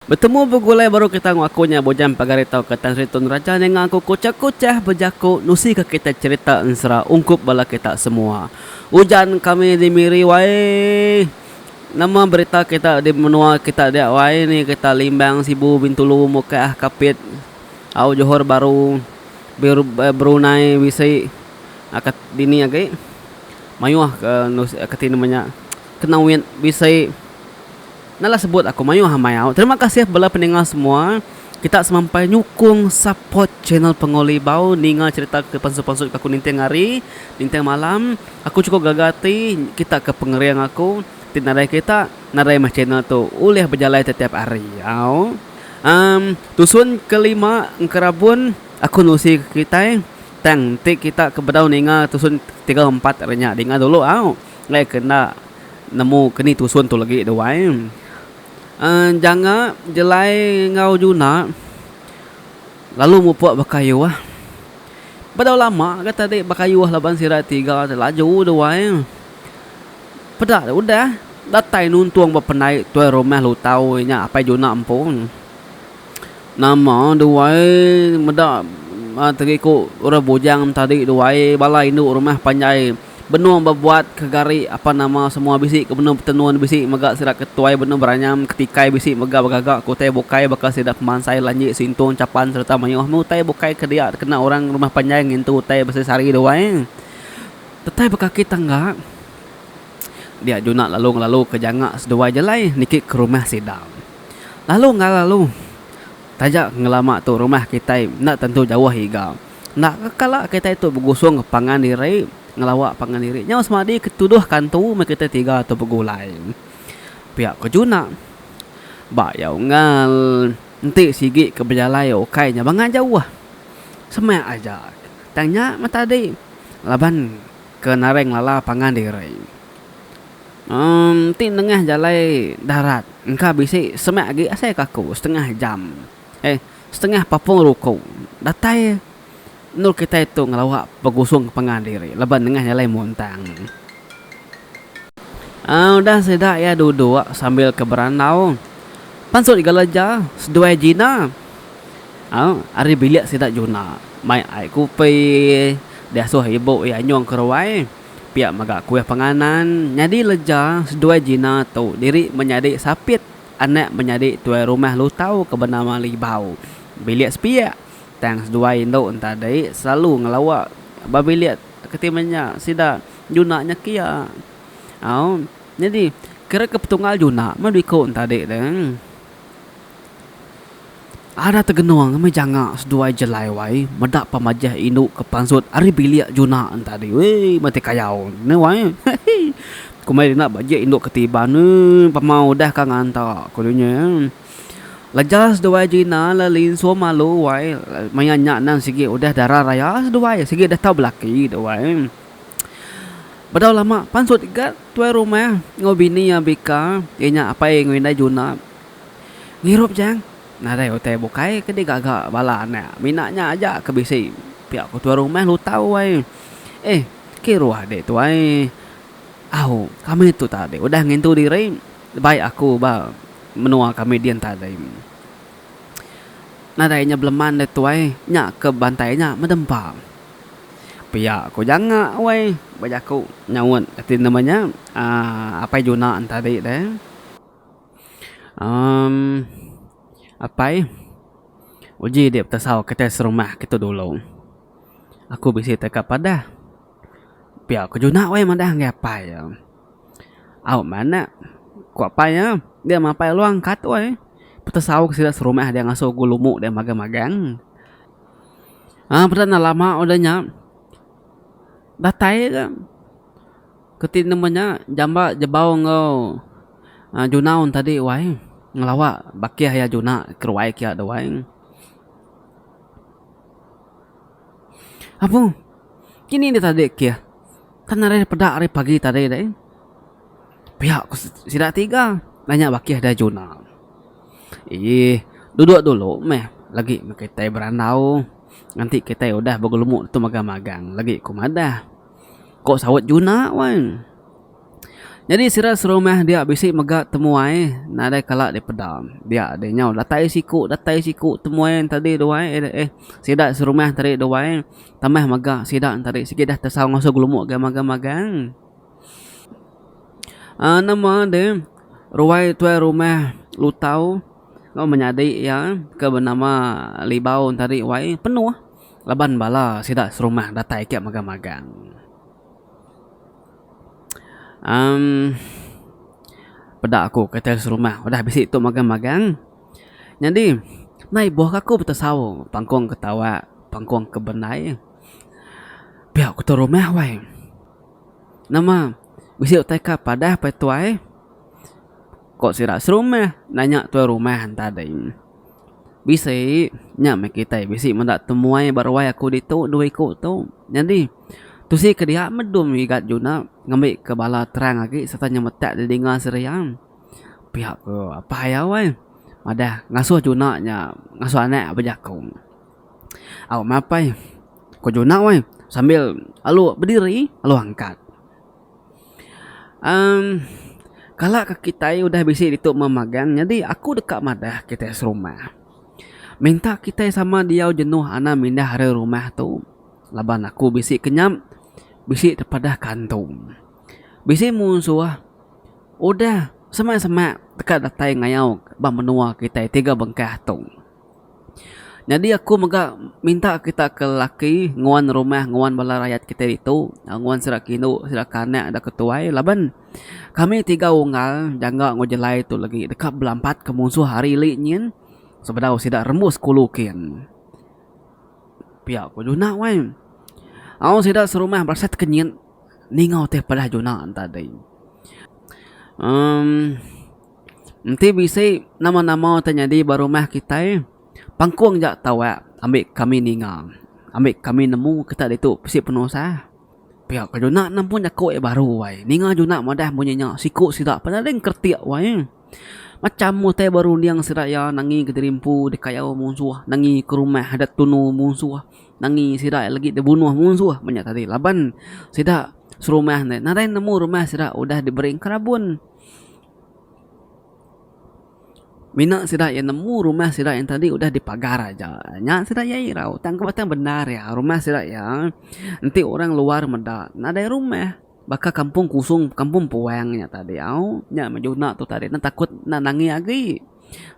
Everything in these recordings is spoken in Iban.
Betemu begulai baru kita enggau aku nya bujang pagar ditu ke Tan Sri Tun Raja ninga aku kuchah-kuchah bejaku nusika kita cherita ensera ungkup bala kita semua. Ujan kami di Miri wai. Nama berita kita di menua kita dia wai ni kita Limbang, Sibu, Bintulu, Mukah, Kapit, au Johor Bahru, Brunei, bisi ka dini agi mayuh ka kati nama nya Kenawit bisi. Enda lah sebut aku mayuh amai au. Terima kasih bela peninga semua. Kita semampai nyukung support channel Penguli bau ninga cerita ke pansut-pansut ke aku ninting hari, ninting malam. Aku chukup gaga ati kita ke pengering aku ti nadai kita nadai meh channel tu ulih bejalai tetiap hari. Au. Um tusun ke lima engkerabun aku nusi ke kitai tang enti kita ke bedau ninga tusun tiga empat ari nya dinga dulu au. Ngai ke enda nemu ke ni tusun tu legi duai. Janga jelai enggau Juna lalu mupuk bekayuh. Bedau lama ga tadi bekayuh laban sida tiga ti laju duai. Peda udah datai nuntung ba penai tuai rumah Lutau nya Apai Juna empu. Nama duai meda teriku orang bujang tadi duai bala indu rumah panjai. Benung bebuat ke gari apan nama semua bisi ke benung betenun bisi mega sida ke tuai benung beranyam ke tikai bisi mega begaga ke utai bukai baka sida pemansai lanji sintung chapan sereta mayuh meh utai bukai ke dia dikena orang rumah panjai ngintu utai beseri sari duai tetai bekaki tangga dia juna lalu ngelalu ke janga seduai jalai niki ke rumah sida lalu ngelalu taja ngelama tu rumah kitai enda tentu jauh iga. Enda ke kala kitai tu begusung pangan diri ngelawa pangan diri nyau semadi ke tuduh kantu meh kitai tiga tu begulai. Pia ke juna. Ba iya unggal enti sigi ke bejalai ukai nya banga jauh. Semak aja tang nya meh tadi laban ke naring lala pangan diri. Em enti nengah jalai darat engka bisi semak agi asai ke aku setengah jam. Eh, setengah papung ruku datai endur kitai tu ngelawa begusung ke pangan diri laban nengah jalai muntang. Aaa udah sida iya duduk sambil ke berandau pansut geleja seduai Gina. Au ari bilik sida Juna mai ai kupi diasuh ibu iya nyung ke ruai pia mega kuih panganan nyadi leja seduai Gina tu diri menyadi sapit Anak menyadi tuai rumah Lutau ke benama Libau bilik sepiak tang seduai indu entadi selalu ngelawa ba bilik ke ti menya sida juna nya kia. Au nyadi kira ke petunggal juna meh biku entadi tu. Ada tegenung ngemih janga seduai jelai wai meda pemajah indu ke pansut ari bilik juna entadi wee mati kayau ne wai heehii komai dina ba je indu ke tiban wee pemau udah ka nganta ku dunya emm leja seduai jina le linsu malu wai maya nya endang sigi udah dara raya seduai sigi udah tau belaki tu wai emm bedau lama pansut ga tuai rumah enggau bini abika iya nya apai enggau indai juna. Ngirup Chang, nadai utai bukai ke digaga bala anak mina nya aja ke bisi pia ku tuai rumah lutau ai. Eh, kiruh deh tuai. Au, kami tu tadi udah ngintu diri bai aku ba menua kami din tadi. Nadai nya beleman deh tuai, nya ke bantai nya medempa. Pia ku janga weh ba jaku nyaut ati nama nya aaa apai juna en tadi deh. Um apai, uji dik betasau kitai serumah kitu dulu. Aku bisi teka padah. Pia ku juna weh madah ngagai apai iya. Au manak, ku apai iya, dia mapai luang kat weh. Betasau ke sida serumah dia ngasu ku lumu dia magang magang. Um peda enda lama udah nya datai ka. Keti nemu nya jamba jebau enggau Junaun tadi wai ngelawa bakih iya juna keruai kia deh wai. Abu kini deh tadi keh kan ari peda ari pagi tadi deh pia ku sida tiga nanya bakih deh juna. Eii duduk dulu meh lagi meh kitai berandau nganti kitai udah begelemu tu mega magang lagi ku madah. Ko saut Juna wan. Nyadi sida serumah dia bisi mega temuai nadai kala dipeda. Dia adi nyau datai siku datai siku temuai tadi duai eh sida serumah tadi duai tambah mega sida tadi sigi dah tesau ngasuh gelumuk ga magang magang. Um nama de ruai tuai rumah lutau menyadi iya ke benama Libau tadi wai penuh. Laban bala sida serumah datai ika mega magang. Em peda aku kata serumah udah bisi tu mega magang. Nyadi nai buh ka aku betesau pangkong ke tawa, pangkong ke benai. Pia ku tu rumah wai. Nama bisi utai ka padah pai tuai. Ko sida serumah nanya tuai rumah enta dei. Bisi, nya meh kitai bisi meda temuai ba ruai aku ditu dua iku tu. Nyadi, tusi ke dia medun ngigat juna ngambika bala terang agi sereta nyemetak didinga Siria. Pia ku apai iya weh. Madah ngasuh juna nya ngasuh anak iya bejaku. Au meh apai, ku juna weh sambil alu bediri alu angkat. Uhm kala ke kitai udah bisi ditu meh magang nyadi aku deka madah kitai serumah minta kitai sama diau jenuh anang mindah ari rumah tu laban aku bisi kenyap bisi tepadah kantung. Bisi musuh udah semak semak teka datai ngayau ba menua kitai tiga bengkah tu. Nyadi aku mega minta kita ke lelaki nguan rumah nguan bala rayat kita ditu nguan sida ke indu sida ke anak da ke tuai laban kami tiga unggal jangka enggau jelai tu legi deka belampat ke musuh hari ili nyin sebedau sida rembus kulu kin. Pia ku juna wai au sida serumah berasai ti kenyit ninga ti padah juna enta dei. Emm. Enti bisi nama-nama ti nyadi ba rumah kitai, pangkung ja tawak ambi kami ninga, ambi kami nemu kita ditu bisi penusah. Pia ka juna nampun jaku iya baru ai. Ninga juna madah munyi nya siku sida penaling keretik wai. Macham utai berunding sida iya nangi ke diri empu dikayau munsuh, nangi ke rumah adat tunu munsuh, nangi sida iya lagi dibunuh munsuh menya tadi laban sida serumah nadai nemu rumah sida udah diberi enkarabun. Mina sida iya nemu rumah sida yang tadi udah dipagar aja. Nya sida iya irau tang ku batang bendar iya rumah sida iya enti orang luar meda nadai rumah. Baka kampung kusung kampung puang nya tadi au. Nya majuna tu tadi ne takut nang nangi agi.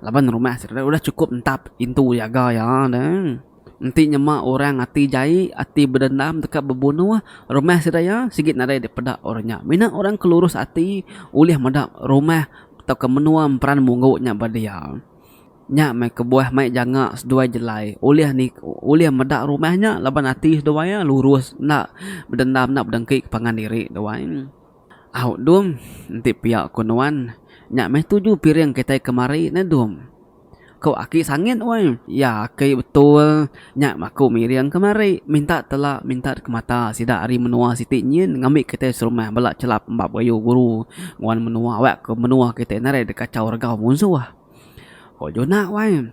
Laban rumah sereta udah chukup entap intu jaga iya deh. Enti nyema orang ati jai, ati bedendam deka bebunuh rumah sida iya sigi nadai dipeda orang nya. Mina orang ke lurus ati ulih meda rumah tauka menua emperan munggu nya ba dia. Nya meh kebuah mai janga seduai jelai ulih ni ulih meda rumah nya laban ati seduai iya lurus enda bedendam enda bedengki ke pangan diri duai. Au, Dum, enti pia ku nuan, nya meh tuju piring kitai kemari neh, Dum. Ko aki sangit weh. Ya aki betul, nya maku miring kemari, minta tela minta dikemata sida ari menua siti nyin ngambi kitai serumah bela chelap embap ayu guru nguan menua awak ko menua kitai nadai dikachau regau munsuh. Ko Juna weh.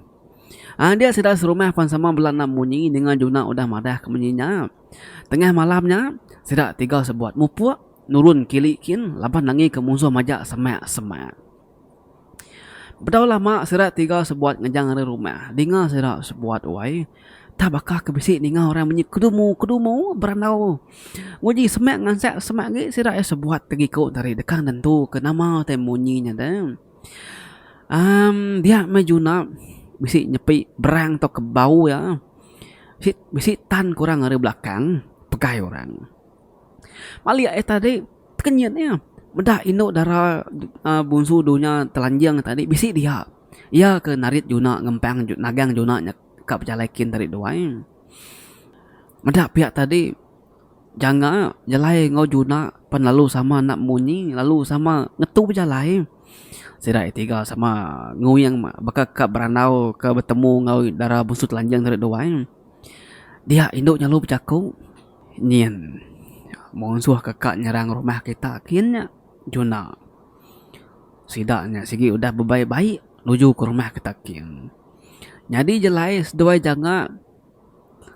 Adik sida serumah pan sama bela enda munyi ninga Juna udah madah ke menyi nya. Tengah malam nya, sida tiga sebuat mupuk nurun kili kin laban nangika musuh majak semak-semak. Bedau lama sida tiga sebuat ngejang ari rumah, dinga sida sebuat wai, tah baka ke bisi ninga orang bunyi kedumu-kedumu berandau. Nguji semak ngansak semak agi sida iya sebuat tegiku tadi deka nentuka nama utai munyi nya deh. Um dia meh Juna bisi nyepi berang atau ke bau iya bisi bisi tan ke orang ari belakang pegai orang. Malik aye tadi tekenyit nya meda inu dara uhh bunsu dulu nya telanjing tadi bisi dia. Iya ke narit Juna ngempang nagang Juna nya ka pejalai kin tadi duai. Meda pia tadi. Jangka jalai enggau juna pan lalu sama enda munyi lalu sama ngetu bejalai. Sida iya tiga sama nguyang baka ka berandau ka betemu enggau dara bungsu telanjang ri duai. Dia indu nyelalu bejaku nyin munsuh ka ka nyerang rumah kita kin nya juna sida nya sigi udah bebai baik nuju ka rumah kita kin. Nyadi jalai seduai jangka.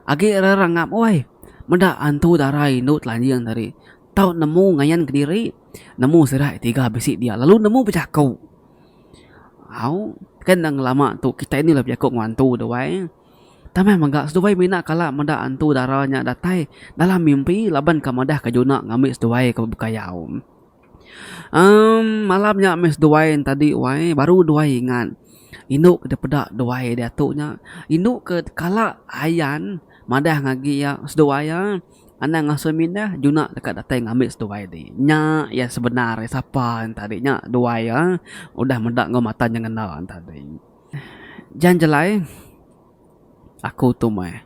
Agi rerengap uai. Meda antu dara indu telanjing tadi tau nemu ngayan kediri nemu sida ti tiga bisi dia lalu nemu bejaku. Au ke enda ngelama tu kitai ni la bejaku enggau antu tu ai. Tanah mega seduai mina kala meda antu dara nya datai dalam mimpi laban ke madahka juna ngambi seduai ke bepekayau. Um malam nya meh seduai ne tadi wai baru duai ingat inu ke dep peda duai diatu nya inu ke kala ayan madah ngagi iya seduai iya anang asoi mindah juna deka datai ngambi seduai ti nya iya sebenar iya sapa ne tadi nya duai iya udah meda enggau mata nyengena ne tadi. Jan jalai. Aku tu meh.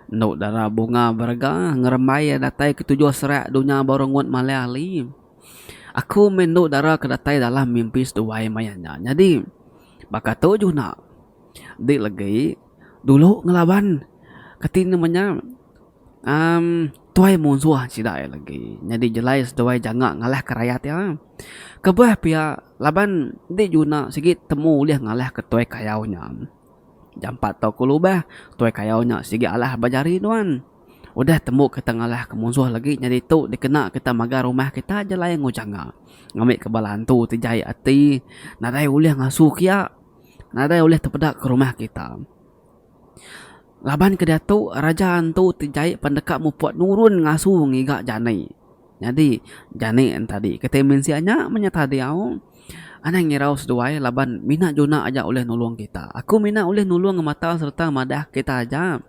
Endo dara bunga berega ngerembai iya datai ketujuh serak dunya baru ngut malai ali. Aku meh endo dara ke datai dalam mimpi seduai maya nya. Nyadi baka tu juna. Enti legi dulu ngelaban kati ne menya amm tuai munsuh sida iya legi. Nyadi jelai seduai janga ngalah ke rayat iya. Kebah pia laban enti juna sigi temu ulih ngalah ke tuai kayau nya. Jampat tau ku lubah. Tuai kayau nya sigi alah ba jari nuan. Udah tembu kita ngalah ke munsuh legi nya ditu dikena kita magar rumah kita aja lain enggau janga. Ngambika bala antu ti jai ati nadai ulih ngasu kia. Nadai ulih tepeda ke rumah kita. Laban ke diatu raja antu ti jai pan deka muput nurun ngasu ngiga jani. Nyadi, jani entadi kitai mensia nya menyata diau anang ngirau seduai laban mina juna aja ulih nulung kita. Aku mina ulih nulung ngemata sereta madahka kita aja.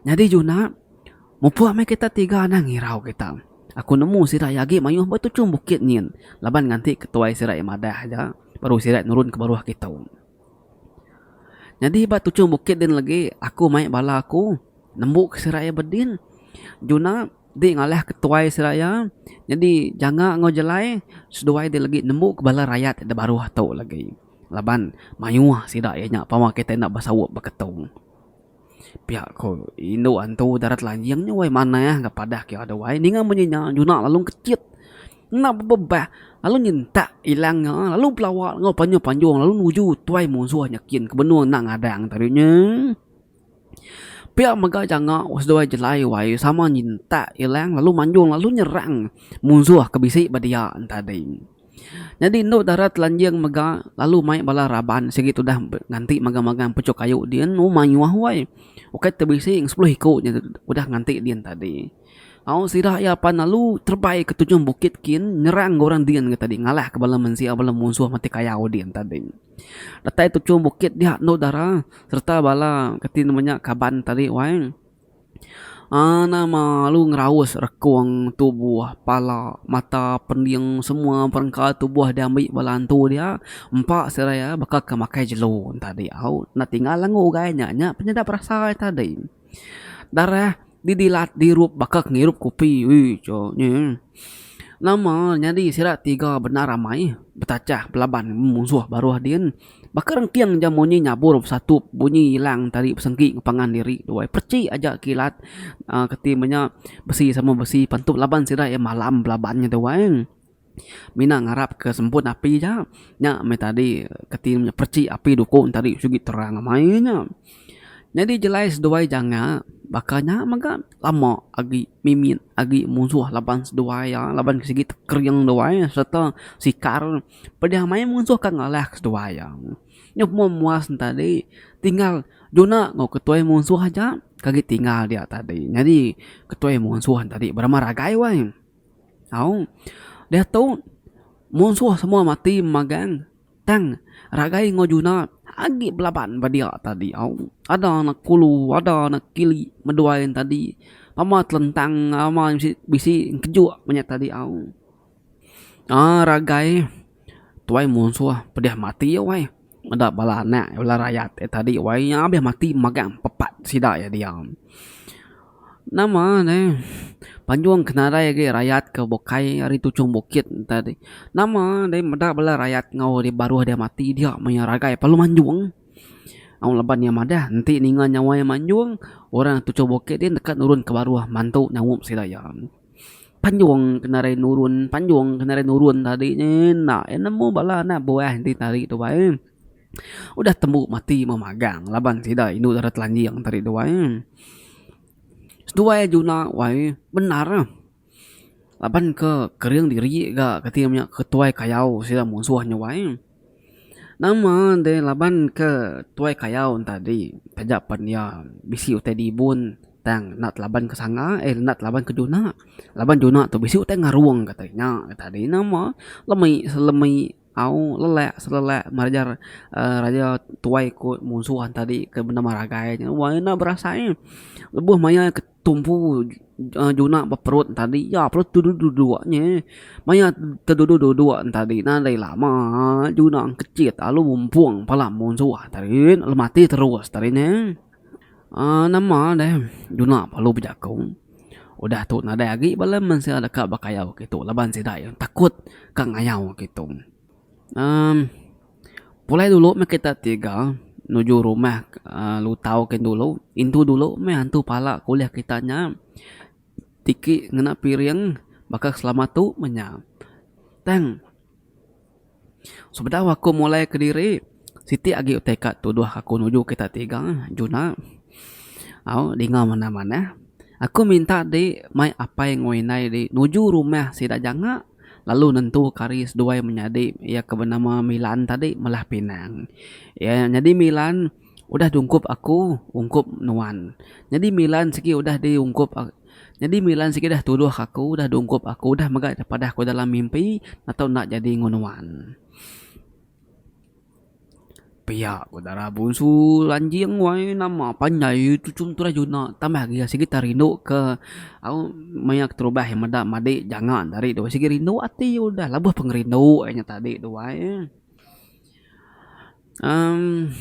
Nyadi juna, mupuk meh kita tiga anang ngirau kita. Aku nemu sida iya agi mayuh ba tuchum bukit nyin laban nganti ketuai sida iya madah aja baru sida nurun ke baruh kitu. Nyadi ba tuchum bukit din legi aku mai bala aku nembu ke siraya bedin juna ti ngalih ke tuai siraya nyadi janga enggau jelai seduai ti legi nembu ke bala rayat da baruh tu legi laban mayuh sida iya nya pama kitai enda besaut beketu. Pia ko indu antu darat lanjing nya wai manah ga padah ke ada wai ninga munyi nya juna lalu kecit enda bebebah lalu nyentak ilang nya lalu belawa enggau panjung panjung lalu nuju tuai munsuh nya kin ke benung enda ngadang te ri nya. Pia mega janga seduai jelai wai sama nyentak ilang lalu manjung lalu nyerang munsuh ke bisi ba dia ntadi. Nyadi endu dara telanjing mega lalu mai bala raban sigi tudah nganti magang-magang puchuk kayu dian u mayuh wai. Ukai te bisi enggau sepuluh iku nya udah nganti dian tadi. Au sida iya pan lalu terebai ke tujung bukit kin nyerang enggau orang dian ke tadi ngalah ke bala mensia bala munsuh mati kayau dian tadi. Datai tujung bukit dia endu dara sereta bala kati nama nya kaban tadi wai. Ana malu ngeraus rekung tubuh, pala, mata, pending semua perengka tubuh diambi bala antu dia empa sida iya baka ke makai jelu tadi au enda tinggal angu ugai nya. Nya penyedap rasa iya tadi. Darah didilat dirup baka ke ngirup kopi. Uish. Nama nyadi sida tiga bendar amai betachah belaban bemusuh baruh din baka rengking ja munyi nyabur besatup bunyi ilang tali besengki ke pangan diri tuai perchi aja kilat uhh keti menya besi sama besi pentu laban sida iya malam belaban nya tuai mina ngarap ke semput api ja nya meh tadi keti perchi api duku tadi sigi terang amai nya. Nyadi jelai seduai jangka baka nya mega lama agi mimit agi musuh laban seduai iya laban sigi tekering duai sereta sikar pediah mai musuh ka ngalah ka seduai iya. Nyuh moh muas ne tadi tinggal juna enggau ketuai musuh aja ka gi tinggal dia tadi nyadi ketuai musuh tadi berama ragai wai au diatu musuh semua mati magang. Tang, ragai enggau Juna agi belaban ba dia tadi au. Ada ne kulu, ada ne kili meduai ne tadi. Pama telentang ama bisi bisi ngejuk menya tadi au. Aa ragai tuai munsuh pedeh mati wai. Meda bala anak bala rayat e tadi wai iya meh mati magang pepat sida iya diau. Nama ne panjung ke nadai agi rayat ke bukai ari tuchung bukit enta ti nama dei meda bala rayat enggau ari baruh dia mati dia meh iya ragai parlu manjung au laban iya madah enti ninga nyawa iya manjung orang tuchung bukit ti deka nurun ke baruh mantu nyaup sida iya panjung ke nadai nurun panjung ke nadai nurun tadi neh enda iya nemu bala anak buah enti tadi tu bai. Udah tembu mati meh magang laban sida indu dara telanjing tadi tu ai. Seduai Juna tu ai bendar ah. Laban ke kering diri ga kati inya ke tuai kayau sida munsuh nya wai. Nama deh laban ke tuai kayau nya tadi taja pen iya bisi utai dibun tang enda telaban ke sanga eh enda telaban ke Juna. Laban Juna tu bisi utai ngarung kata inya tadi. Nama lemi selemi. Au lelak selelak meraja raja tuai ku munsuh tadi ke bendar meragai nya wang enda berasai lebuh maya ke tumpu juna ba perut tadi iya pun teduduk duduk nye maya teduduk duduk tadi nadai lama juna kecit lalu mumpung pala munsuh tadi lalu mati terus tadi ne. Nama deh guna bala bejaku udah tu nadai agi bala mensia deka bekayau agi tu laban sida iya takut ka ngayau agi tu uhh pulai dulu meh kita tiga nuju rumah uhh lutau gin dulu indu dulu meh antu pala kuliah kita nya tiki ngena piring baka selama tu meh nya tang. Sebedau aku mulai kediri siti agi utai ka tuduh aku nuju kita tiga Juna au dinga manah manah aku minta di mai apai enggau indai di nuju rumah sida janga lalu nentuka hari seduai menyadi iya ke benama Milan tadi melah pinang iya nyadi Milan udah di ungkup aku ungkup nuan nyadi Milan sigi udah di ungkup. Nyadi mila sigi dah tuduh aku dah dungkup aku dah mega nya padah ku dalam mimpi natu enda jadi enggau nuan. Pia ku dara bunsu lanjing wai nama panjai tu chuntu dah juna tambah agi sigi tau rindu ke au maya keterubah yang meda madi janga enda ari tu sigi rindu ati udah labuh pengerindu ai nya tadi tu ai. Amm.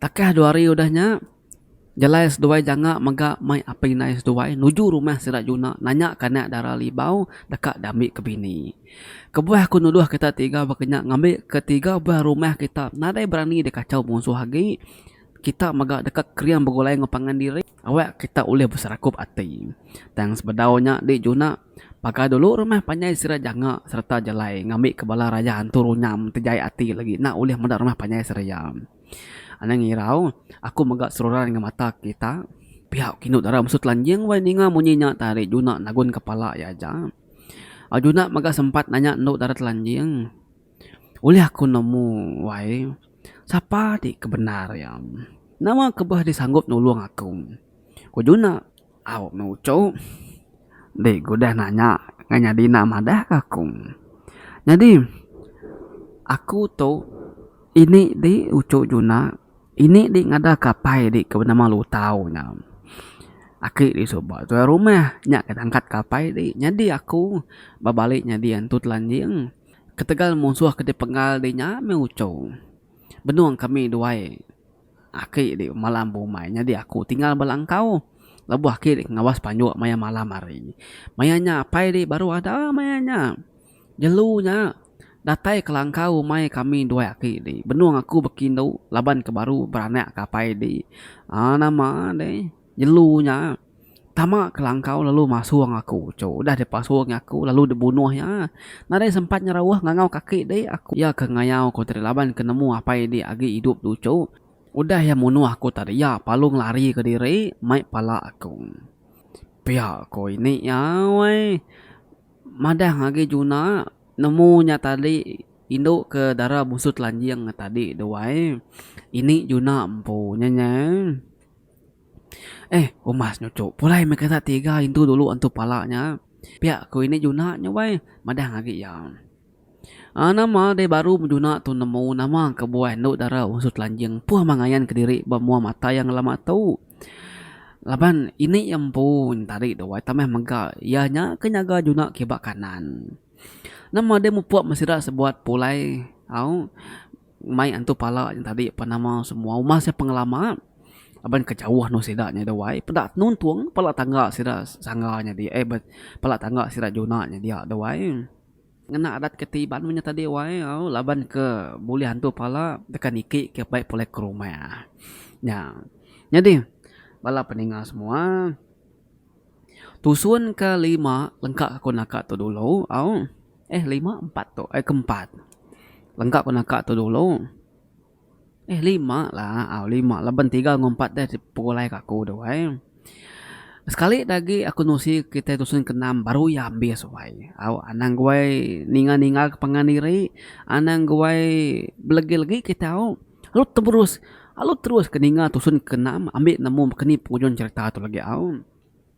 Takah dua hari udah nya, jalai seduai janga mega mai apai indai seduai nuju rumah sida Juna nanya kanak dara Libau deka diambi ke bini. Kebuah aku nuduh kita tiga baka nya ngambi ke tiga buah rumah kita nadai berani dikachau munsuh agi, kita mega deka kering begulai enggau pangan diri. Awak kita ulih beserakup ati. Tang sebedau nya di juna, paga dulu rumah panjai sida janga sereta jalai ngambika bala rayah antu runyam ti jai ati lagi enda ulih meda rumah panjai seraya. Anang irau, aku mega seruran enggau mata kita, pia ku indu dara mesu telanjing wai ninga munyi nya tah ari juna nagunka pala iya aja. Juna mega sempat nanya endu dara telanjing. Ulih aku nemu wai sapa ti ke bendar iya. Nama ke beh disanggup nulung aku. Ku Juna. Au meh uchu enti ku udah nanya ngan nyadi enda madah ke aku. Nyadi aku tu ini di uchu Juna ini di ngadah ke apai di ke benama Lutau nya. Aki di suba tuai rumah nya ke nangkat ke apai di. Nyadi aku bebali nyadi antu telanjing. Ketegal munsuh ke dipenggal di nya meh uchu. Benung kami duai aki di malam bumai nyadi aku tinggal bala engkau. Lebuh aki di pengawas panjuk maya malam hari. Maya nya apai di baru ada maya nya. Jelu nya datai kelangkau rumai kami duai aki di. Benung aku bekindu laban ke baru beranak ke apai di. Aaa nama deh. Jelu nya tama ke langkau lalu masung aku. Cu udah deh pasung aku lalu deh bunuh iya. Nadai sempat nyerauh ngangau kaki deh aku. Iya ke ngayau ku tadi laban ke nemu apai deh agi idup tu cu. Udah iya munuh aku tadi iya palung lari ke diri mai pala aku. Pia ko ini iya weh. Madah agi juna nemu nya tadi indu ke dara Busu Telanjing tadi duai. Ini juna empu nya nyeh. Eh, umas nya uchu. Pulai meh kita tiga indu dulu antu pala nya. Pia ku indi juna nya wai, madah agi iya. Aaa, nama deh baru bejuna tu nemu nama kebuah enda dara masu telanjing empuh meh ngayan kediri ba mua mata iya ngelama tu. Laban indi iya empu tadi tu wai tambah mega iya nya ke nyaga juna ke ba kanan. Nama deh mupuk meh sida sebuat pulai, au. Mai antu pala nya tadi apan nama semua uma sia pengelama aban ke jauh anu sida nya da wai peda tenuntung pala tangga sida sangga nya dia ai ben pala tangga sida juna nya dia da wai ngena adat ke ti iban nya tadi wai au laban ke bulih antu pala deka niki ke bai pulai ke rumah nya. Nyadi bala peninga semua tusun ka lima lengka ku naka tu dulu au. Eh lima empat tu eh ke empat lengkap ke naka tu dulu eh lima lah au lima laban tiga enggau empat deh pegulai ke aku tu ai sekali da agi aku nusi kitai dusun ke enam baru iya ambis wai au anang guai ninga ninga ke pangan diri anang guai belegi legi ke tau lalu terus lalu terus ke ninga dusun ke enam ambi nemu ke ni pengujung cerita tu legi au.